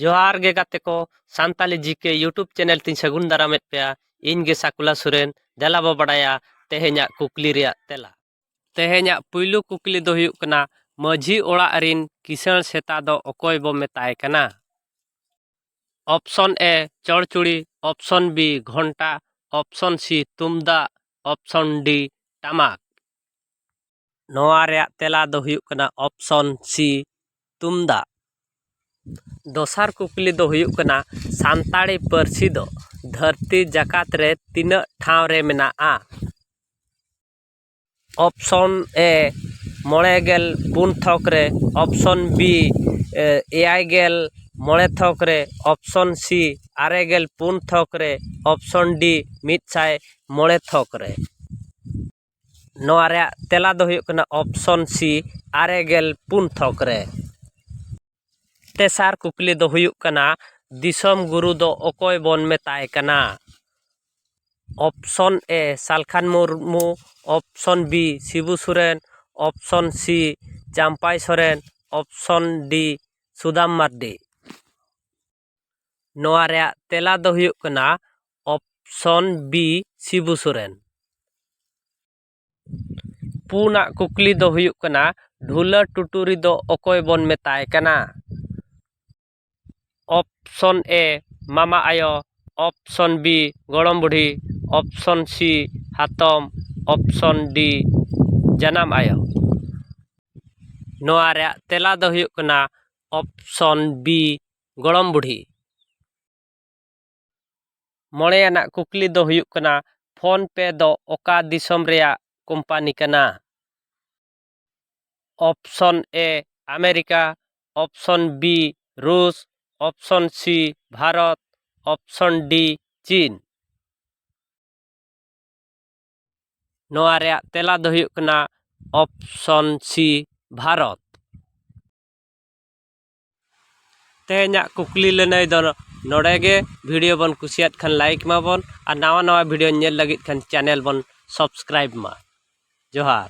ᱡᱚᱦᱟᱨ ᱜᱮ ᱜᱟᱛᱮ ᱠᱚ ᱥᱟᱱᱛᱟᱞᱤ ᱡᱤᱠᱮ ᱤᱭᱩᱴᱩᱵᱽ ᱪᱮᱱᱮᱞ ᱛᱤᱧ ᱥᱟᱹᱜᱩᱱ ᱫᱟᱨᱟᱢᱮᱫ ᱯᱮᱭᱟ ᱤᱧ ᱜᱮ ᱥᱟᱠᱩᱞᱟ ᱥᱚᱨᱮᱱ ᱫᱮᱞᱟ ᱵᱚ ᱵᱟᱰᱟᱭᱟ ᱛᱮᱦᱮᱧᱟᱜ ᱠᱩᱠᱞᱤ ᱨᱮᱭᱟᱜ ᱛᱮᱞᱟ ᱛᱮᱦᱮᱧᱟᱜ ᱯᱩᱭᱞᱩ ᱠᱩᱠᱞᱤ ᱫᱚ ᱦᱩᱭᱩᱜ ᱠᱟᱱᱟ ᱢᱟᱹᱡᱷᱤ ᱚᱲᱟᱜ ᱨᱤᱱ ᱠᱤᱥᱟᱹᱬ ᱥᱮᱛᱟ ᱫᱚ ᱚᱠᱚᱭ ᱵᱚ ᱢᱮᱛᱟᱭ ᱠᱟᱱᱟ ᱚᱯᱥᱚᱱ ᱮ ᱪᱚᱲᱪᱩᱲᱤ ᱚᱯᱥᱚᱱ ᱵᱤ ᱜᱷᱚᱱᱴᱟ ᱚᱯᱥᱚᱱ ᱥᱤ ᱛᱩᱢᱫᱟᱜ ᱚᱯᱥᱚᱱ ᱰᱤ ᱴᱟᱢᱟᱠ ᱱᱚᱣᱟ ᱨᱮᱭᱟᱜ ᱛᱮᱞᱟ ᱫᱚ ᱦᱩᱭᱩᱜ ᱠᱟᱱᱟ ᱚᱯᱥᱚᱱ ᱥᱤ ᱛᱩᱢᱫᱟᱜ ᱫᱚᱥᱟᱨ ᱠᱩᱠᱞᱤ ᱫᱚ ᱦᱩᱭᱩᱜ ᱠᱟᱱᱟ ᱥᱟᱱᱛᱟᱲᱤ ᱯᱟᱹᱨᱥᱤ ᱫᱚ ᱫᱷᱟᱹᱨᱛᱤ ᱡᱟᱠᱟᱛ ᱨᱮ ᱛᱤᱱᱟᱹᱜ ᱴᱷᱟᱶ ᱨᱮ ᱢᱮᱱᱟᱜᱼᱟ ᱚᱯᱥᱚᱱ ᱮ ᱢᱚᱬᱮ ᱜᱮᱞ ᱯᱩᱱ ᱛᱷᱚᱠ ᱨᱮ ᱚᱯᱥᱚᱱ ᱵᱤ ᱮᱭᱟᱭ ᱜᱮᱞ ᱢᱚᱬᱮ ᱛᱷᱚᱠ ᱨᱮ ᱚᱯᱥᱚᱱ ᱥᱤ ᱟᱨᱮ ᱜᱮᱞ ᱯᱩᱱ ᱛᱷᱚᱠ ᱨᱮ ᱚᱯᱥᱚᱱ ᱰᱤ ᱢᱤᱫ ᱥᱟᱭ ᱢᱚᱬᱮ ᱛᱷᱚᱠ ᱨᱮ ᱱᱚᱣᱟ ᱨᱮᱭᱟᱜ ᱛᱮᱞᱟ ᱫᱚ ᱦᱩᱭᱩᱜ ᱠᱟᱱᱟ ᱚᱯᱷᱥᱚᱱ ᱥᱤ ᱟᱨᱮ ᱜᱮᱞ ᱯᱩᱱ ᱛᱷᱚᱠ ᱨᱮ ᱛᱮᱥᱟᱨ ᱠᱩᱠᱞᱤ ᱫᱚ ᱦᱩᱭᱩᱜ ᱠᱟᱱᱟ ᱫᱤᱥᱚᱢ ᱜᱩᱨᱩ ᱫᱚ ᱚᱠᱚᱭ ᱵᱚᱱ ᱢᱮᱛᱟᱭ ᱠᱟᱱᱟ option A Salkhan Murmu option B Sibu Soren option C Champai Soren option D Sudam Mardi ᱱᱚᱣᱟ ᱨᱮᱭᱟᱜ ᱛᱮᱞᱟ ᱫᱚ ᱦᱩᱭᱩᱜ ᱠᱟᱱᱟ ᱚᱯᱥᱚᱱ ᱵᱤ ᱥᱤᱵᱩ ᱥᱚᱨᱮᱱ ᱯᱩᱱᱟᱜ ᱠᱩᱠᱞᱤ ᱫᱚ ᱦᱩᱭᱩᱜ ᱠᱟᱱᱟ ᱰᱷᱩᱞᱟᱹ ᱴᱩᱴᱩᱨᱤ ᱫᱚ ᱚᱠᱚᱭ ᱵᱚᱱ ᱢᱮᱛᱟᱭ ᱠᱟᱱᱟ ᱚᱯᱥᱚᱱ ᱮ ᱢᱟᱢᱟ ᱟᱭᱳ ᱚᱯᱥᱚᱱ ᱵᱤ ᱜᱚᱲᱚᱢ ᱵᱩᱰᱷᱤ ᱚᱯᱥᱚᱱ ᱥᱤ ᱦᱟᱛᱚᱢ ᱚᱯᱥᱚᱱ ᱰᱤ ᱡᱟᱱᱟᱢ ᱟᱭᱳ ᱱᱚᱣᱟ ᱨᱮᱭᱟᱜ ᱛᱮᱞᱟ ᱫᱚ ᱦᱩᱭᱩᱜ ᱠᱟᱱᱟ ᱚᱯᱥᱚᱱ ᱵᱤ ᱜᱚᱲᱚᱢ ᱵᱩᱰᱷᱤ ᱢᱚᱬᱮ ᱟᱱᱟᱜ ᱠᱩᱠᱞᱤ ᱫᱚ ᱦᱩᱭᱩᱜ ᱠᱟᱱᱟ ᱯᱷᱳᱱ ᱯᱮ ᱫᱚ ᱚᱠᱟ ᱫᱤᱥᱚᱢ ᱨᱮᱭᱟᱜ ᱠᱳᱢᱯᱟᱱᱤ ᱠᱟᱱᱟ option A America option B ᱨᱩᱥ option C Bharat option D ᱪᱤᱱ ᱱᱚᱣᱟ ᱨᱮᱭᱟᱜ ᱛᱮᱞᱟ ᱫᱚ ᱦᱩᱭᱩᱜ ᱠᱟᱱᱟ ᱚᱯᱥᱚᱱ ᱥᱤ ᱵᱷᱟᱨᱚᱛ ᱛᱮᱦᱮᱧᱟᱜ ᱠᱩᱠᱞᱤ ᱞᱟᱹᱱᱟᱹᱭ ᱫᱚ ᱱᱚᱰᱮ ᱜᱮ ᱵᱷᱤᱰᱤᱭᱳ ᱵᱚᱱ ᱠᱩᱥᱤᱭᱟᱫ ᱠᱷᱟᱱ ᱞᱟᱭᱤᱠ ᱢᱟᱵᱚᱱ ᱟᱨ ᱱᱟᱣᱟ ᱱᱟᱣᱟ ᱵᱷᱤᱰᱤᱭᱳ ᱧᱮᱞ ᱞᱟᱹᱜᱤᱫ ᱠᱷᱟᱱ ᱪᱮᱱᱮᱞ ᱵᱚᱱ ᱥᱟᱵᱥᱠᱨᱟᱭᱤᱵᱽ ᱢᱟ ᱡᱚᱦᱟᱨ